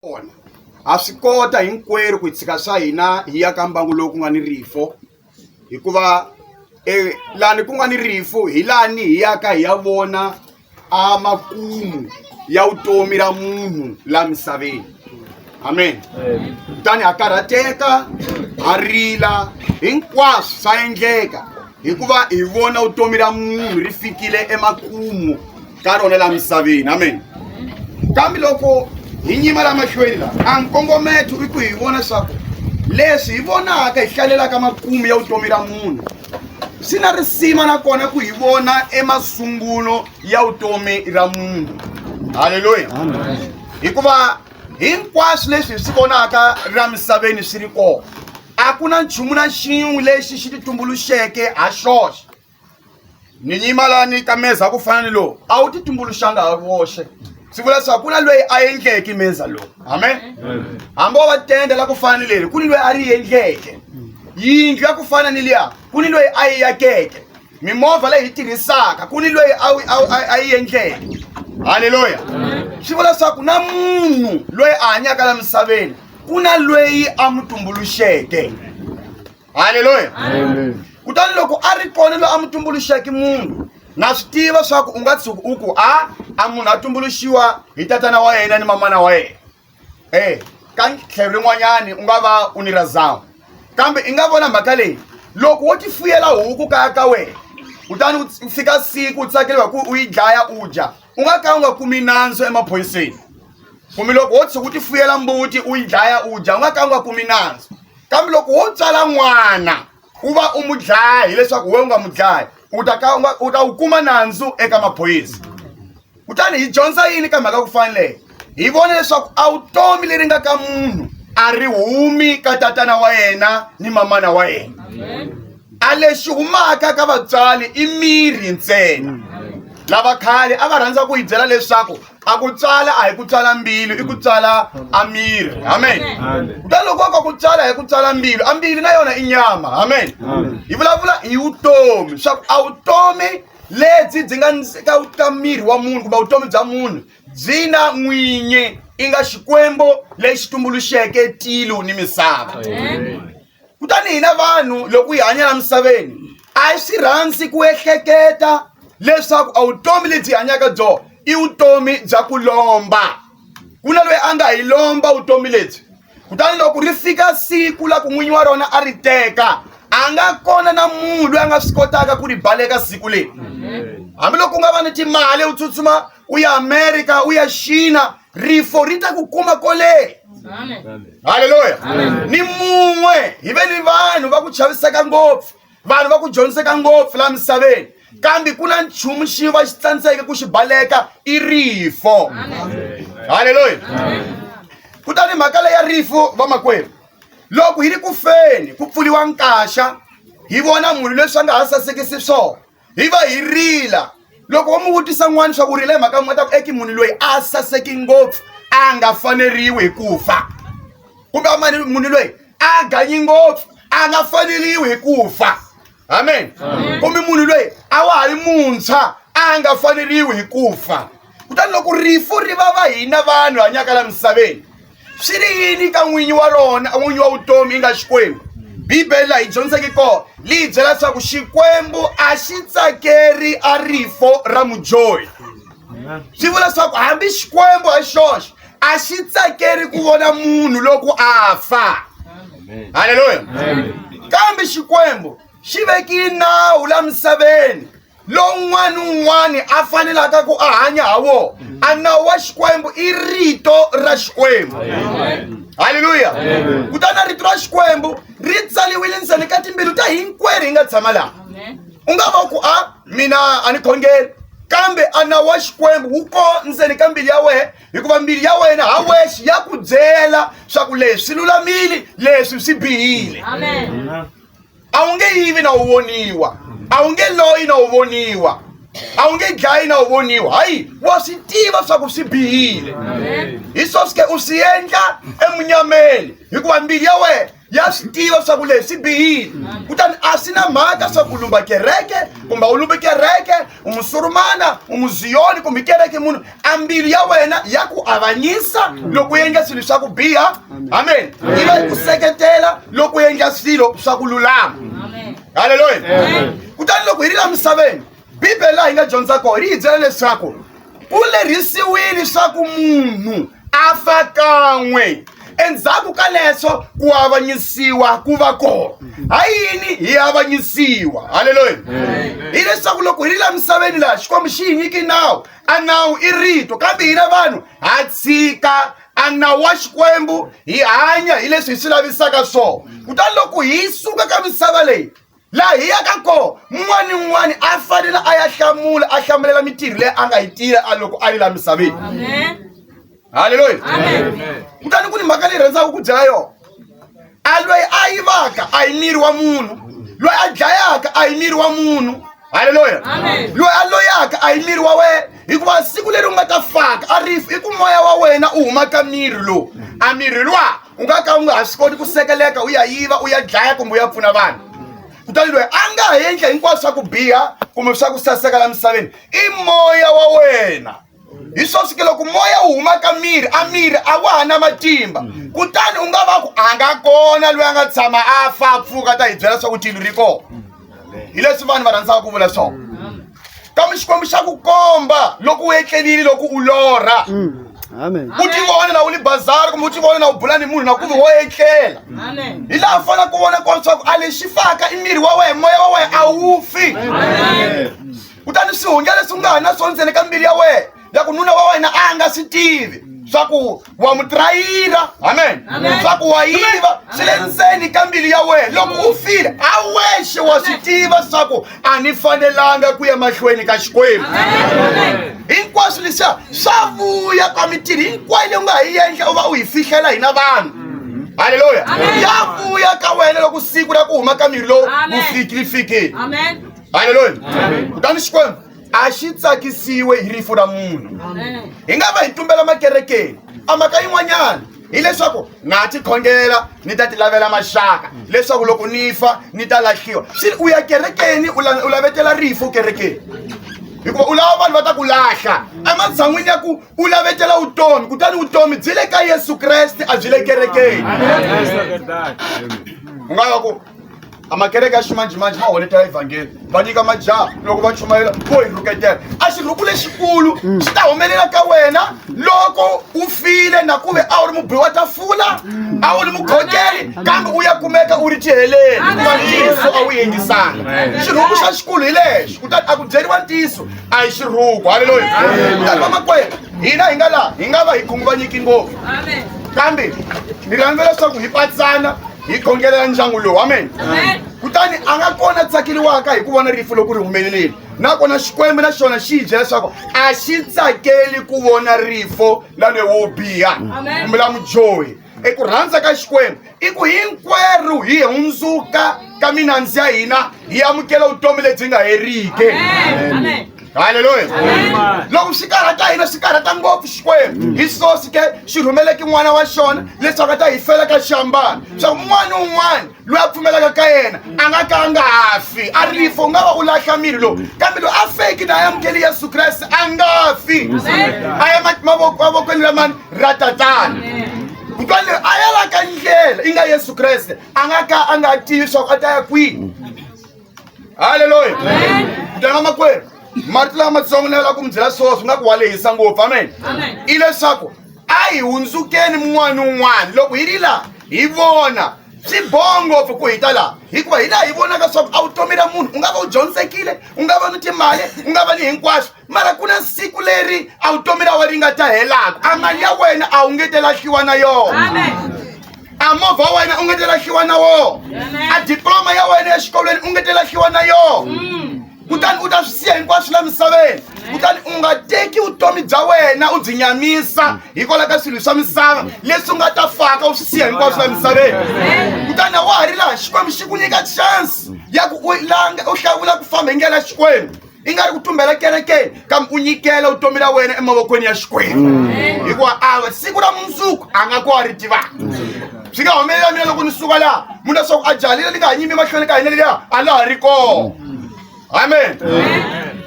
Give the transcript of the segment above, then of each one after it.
Kona, ha swi kota hinkwerhu ku tshika swa hina hi ya ka mbangu lowu ku nga ni rifu hikuva e, lani ku nga ni rifu hi lani hi yaka hi ya vona a makumu ya vutomi ra munhu la misaveni amen kutani ha karhateka ha rila hinkwaswo swa endleka hikuva hi vona vutomi ra munhu ri fikile emakumu ka rona laha misaveni amen kambe loko hi nyima la mahlweni la a nkongometo i ku hi vona swaku leswi hi vonaka hi hlalelaka makumu ya vutomi ra munhu swi na risima nakona ku hi vona emasungulo ya vutomi ra munhu halleluya hikuva hinkwaswo leswi hi swi vonaka ra misaveni swi ri kona a ku na nchumu na xin'we lexi xi titumbuluxeke ha xoxe ni nyima la ni ta meza ku fana ni lowu a wu ti tumbuluxanga ha voxe swi vula leswaku ku na loyi a endleke meza lowu amen hambi wo va tenda la ku fana ni leri ku ni loyi a ri endleke yindlu ya ku fana ni liya ku ni loyi a yi yakeke mimovha leyi hi tirhisaka ku ni loyi a yi endleke halleluya swi vula leswaku na munhu loyi a hanyaka la misaveni ku na loyi a mu tumbuluxeke haleluya kutani loko a ri kona loyi a mu tumbuluxeke munhu na swi tiva swa ku u nga tshuki u ku a a munhu a tumbuluxiwa hi tatana wa yena ni mamana wa yena e ka tlhelo rin'wanyani u nga va u ni razama kambe i nga vona mhaka leyi loko wo tifuyela huku kaya ka wena kutani u fika siku u tsakeliwa ku u yi dlaya u dya u nga ka u nga kumi nandzu emaphoyiseni kumbe loko wo tshuka u ti fuyela mbuti u yi dlaya u dya u nga ka u nga kumi nandzu kambe loko wo tswala n'wana u va u mu dlaya hileswaku we u nga mu dlayi u ta ka u ta wu kuma nandzu eka maphoyisa kutani hi dyondza yini ka mhaka ku faneleke hi vona leswaku a vutomi leri nga ka munhu a ri humi ka tatana wa yena ni mamana wa yena a lexi humaka ka vatswari i miri ntsena lava khale a va rhandza ku yi byela leswaku a ku tswala a hi ku tswala mbilu i ku tswala a miri amen kutani loko ka ku tswala hi ku tswala mbilu a mbilu na yona i nyama amen hi vulavula hi vutomi swa ku a vutomi lebyi byi nga ka ka miri wa munhu kumbe vutomi bya munhu byi na n'winyi i nga xikwembu lexi tumbuluxeke tilo ni misava kutani hina vanhu loko hi hanya la misaveni a hi swi rhandzi ku ehleketa leswaku a vutomi lebyi hanyaka byona i vutomi bya ku lomba ku na loyi a nga hi lomba vutomi lebyi kutani loko ri fika siku la ku n'winyi wa rona a ri teka a nga kona na munhu loyi a nga swi kotaka ku ri baleka siku leyi hambiloko u nga va ni timali u tsutsuma u ya amerika u ya xina rifo ri ta ku kuma kole halleluya ni mun'we hi ve ni vanhu va ku chaviseka ngopfu vanhu va ku dyondziseka ngopfu laha misaveni kambe ku na nchumu xi va xi tsandzeke ku xi baleka i rifo halleluya kutani mhaka leya rifo vamakwerhu loko hi ri ku feni ku pfuliwa nkaxa hi vona munhu leswi a nga ha sasekisi swona hi va hi rila loko wo mi vutisa n'wana swa ku rila hi mhaka n'wi ta ku eki munhu loyi a saseki ngopfu a nga faneriwi hi ku fa kumbe a mani munhu loyi a ganyi ngopfu a nga faneriwi hi ku fa amen kumbe munhu loyi a wa ha ri muntshwa a nga faneriwi hi ku fa kutani loko rifu ri va va hina vanhu hanyaka la misaveni swi ri yini ka n'winyi wa rona n'winyi wa vutomi yi nga xikwembu bibele laha yi dyondziseke kona liyi byela leswaku xikwembu a xi tsakeri a rifo ra mudyohi swi vula leswaku hambi xikwembu hi xoxe a xi tsakeri ku vona munhu loko a fa halleluya kambe xikwembu xi vekile nawu la misaveni lowun'wana ni un'wana a fanelaka ku a hanya ha wona a nawu wa xikwembu i rito ra xikwembu halleluya kutani rito ra xikwembu ri tsaliwile ndzeni ka timbilu ta hinkwerhu hi nga tshama laha u nga va ku a ah, mina a ni khongeli kambe a nawu wa xikwembu wu ko ndzeni ka mbilu ya wena hikuva mbilu ya wena ha wexe ya ku byela swa ku leswi lulamile leswi swi bihile Amen. Amen. a wu nge yivi na wu voniwa a wu nge loyi na wu voniwa a wu nge dlayi na wu voniwa hayi wa swi tiva swa ku swi bihile hi swo swi ke u swi endla emunyameni hikuva mbilu ya wena ya swi tiva swa ku leswi swi bihile kutani a swi na mhaka swa ku lumba kereke kumbe u lumbe kereke umusurumana umuziyoni kumbe kereke munhu a mbilu ya wena ya ku avanyisa loko u endla swilo swa ku biha amen yi va yi ku seketela loko u endla swilo swa ku lulama halleluya kutani loko hi ri la misaveni bibele laha yi nga dyondza kona ri hi byela leswaku ku lerhisiwile swaku munhu a fa kan'we endzhaku ka leswo ku avanyisiwa ku va kona ha yini hi avanyisiwa halleluya hileswaku loko hi ri la misaveni laha xikwembu xi hi nyiki nawu a nawu i rito kambe hina vanhu ha tshika a nawu wa xikwembu hi hanya hi leswi hi swi lavisaka swona kutani loko hi suka ka misava leyi laha hi yaka kona un'wana ni un'wana a fanele a ya hlamula a hlamulela mitirho leyi a nga yi tirha a loko a yi laha misaveni halleluya kutani ku ni mhaka leyi rhandzaka ku dlaya yona a loyi a yivaka a hi miri wa munhu loyi a dlayaka a hi miri wa munhu halleluya loyi a loyaka a hi miri wa wena hikuva siku leri u nga ta faka a rifu i ku moya wa wena u huma ka miri lowu a miri luwa u nga ka u nga ha swi koti ku sekeleka u ya yiva u ya dlaya kumbe u ya pfuna vanhu kutani loyi a nga ha endla hinkwaswo swa ku biha kumbe swa ku saseka la misaveni i moya wa wena hi swo fike loko moya wu huma ka miri a miri a wa ha na matimba kutani u nga va ku a nga kona loyi a nga tshama a fa pfuka ta hi byela swa ku tilo ri kona hi leswi vanhu va rhandzaka ku vula swona kambe xikwembu xa ku komba loko u etlelile loko u lorha Amen. u ti vona na u ni bazari kumbe u ti vona na u bula ni munhu na ku ve wo etlela hi laha u fanele ku vona kona leswaku a lexi faka i miri wa wena moya wa wena a wu fi kutani swihunga leswi u nga ha na swona ntsena ka mbilu ya wena ya ku nuna wa wena a nga swi tivi swa ku wa mu trayira amen swa ku wa yiva swi le ndzeni ka mbilu ya wena loko u file a wexe wa swi tiva swa ku a ni fanelanga ku ya mahlweni ka xikwembu hinkwaswo leswiya swa vuya ka mitirho hinkwayo leyi u nga ha yi endla u va u yi fihlela hina vanhu halleluya ya vuya ka wena loko siku ra ku huma ka miri lowu wu fikile fikile halleluya kutani xikwembu a xi tsakisiwe hi rifu ra munhu hi nga va hi tumbela makerekeni a mhaka yin'wanyana hileswaku na tikhongela ni ta ti lavela maxaka leswaku loko ni fa ni ta lahliwa swi u ya kerekeni u lavetela rifu kerekeni hikuva u lava vanhu va ta ku lahla ematshan'wini ya ku u lavetela vutomi kutani vutomi byi le ka yesu kreste a byi le kerekeni u nga va ku a makereke ya ximanjhemanjhe ma honeta evhangeli va nyika majaha loko va chumayela vo hi rhuketela a xirhuku lexikulu mm. xi ta humelela ka wena loko u file na ku ve a wu ri mubihi wa tafula mm. a wu ri mukhongeri kambe u ya kumeka u ri tiheleli hikuva ntiyiso a wu yingisanga xirhuku xa xikulu hi lexo kutani a ku byeriwa ntiyiso a hi xirhuku halleluya kutani vamakwerhu hina hi nga laha hi nga va hi khunguvanyeki ngopfu kambe ni rhandza leswaku hi patsana hi khongela ya ndyangu lowu amen kutani a nga kona tsakeriwaka hi ku vona rifu loko ri humeleleli nakona xikwembu na xona xi yi byela leswaku a xi tsakeli ku vona rifo la loyi wo biha kumbe la mudyohi eku rhandza ka xikwembu i ku hinkwerhu hi hundzuka ka minandzi ya hina hi amukela vutomi lebyi nga heriki haleluya loko swi karhata hina swi karhata ngopfu xikwembu hi sosi ke xi rhumeleke n'wana wa xona leswaku a ta hi fela ka xambana swa un'wana ni un'wana loyi a pfumelaka ka yena a nga ka a nga ha fi a rifa u nga va u lahla miri lowu kambe loyi a feki na a yi amukeli yesu kreste a nga fi a ya mavokweni lamani ra tatana kutwa leyi a yalaka ndlela yi nga yesu kreste a nga ka a nga tivi swaku a ta ya kwini halleluya mntana makwerhu marito lama matsongo ni lava ku mi byela swona swi nga ku wa lehisa ngopfu amen i leswaku a hi hundzukeni mun'wana ni un'wana loko hi ri laha hi vona swi boha ngopfu ku hita laha hikuva hi laha hi vonaka swaku a wu tomela munhu u nga va u dyondzekile u nga va ni timali u nga va ni hinkwaswo mara ku na siku leri a vutomi ra wena ri nga ta helaka a mali ya wena a wu nge te lahliwa na yona a movha wa wena u nge te lahliwa na wona a diploma ya wena exikolweni u nge te lahliwa na yona mm. kutani u ta swi siya hinkwaswo la misaveni kutani u nga teki vutomi bya wena u byi nyamisa hikwalaho ka swilo swa misava leswi u nga ta faka u swi siya hinkwaswo la misaveni kutani a wa ha ri laha xikwembu xi ku nyika chance ya ku u langa u hlawula ku famba hi ndlela xikwembu i nga ri ku tumbela kerekeni kambe u nyikela vutomi ra wena emavokweni ya xikwembu mm. hikuva ava siku ra mundzuku a nga ko a ri tivaka swi nga humelela mina loko ni suka laha munhu leswaku a jalile ni nga ha nyimi emahlweni ka hina leliya a laha ri kona amen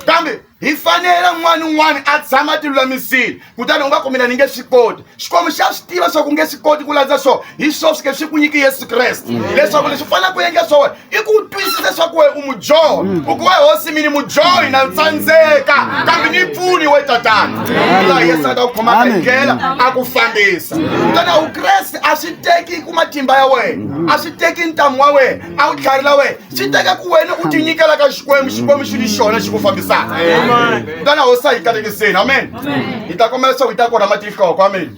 kambe hi fanele n'wana un'wana a tshama a tilulamisile kutani u nga kumela ni nge swi koti xikwembu xa swi tiva swa ku nge swi koti ku landza swo hi swo swi ke swi ku nyiki yesu kreste mm. leswaku leswi u fanele ku endla swa wena i ku twisisa swa ku we u mudyoho mm. u ku we hosi mini mudyohi na tsandzeka kambe ni pfuni we tatana laha yesu a ta ku khomaka hi ndlela a ku fambisa kutani a wukreste a swi teki ku matimba ya wena a swi teki ntamu wa wena a wu tlharila wena swi teka ku wena u tinyikela ka xikwembu xikwembu xi ni xona xi ku fambisaka kutani a wu sa yi kalekiseni amen hi ta kombela leswaku hi ta kona matihloko amen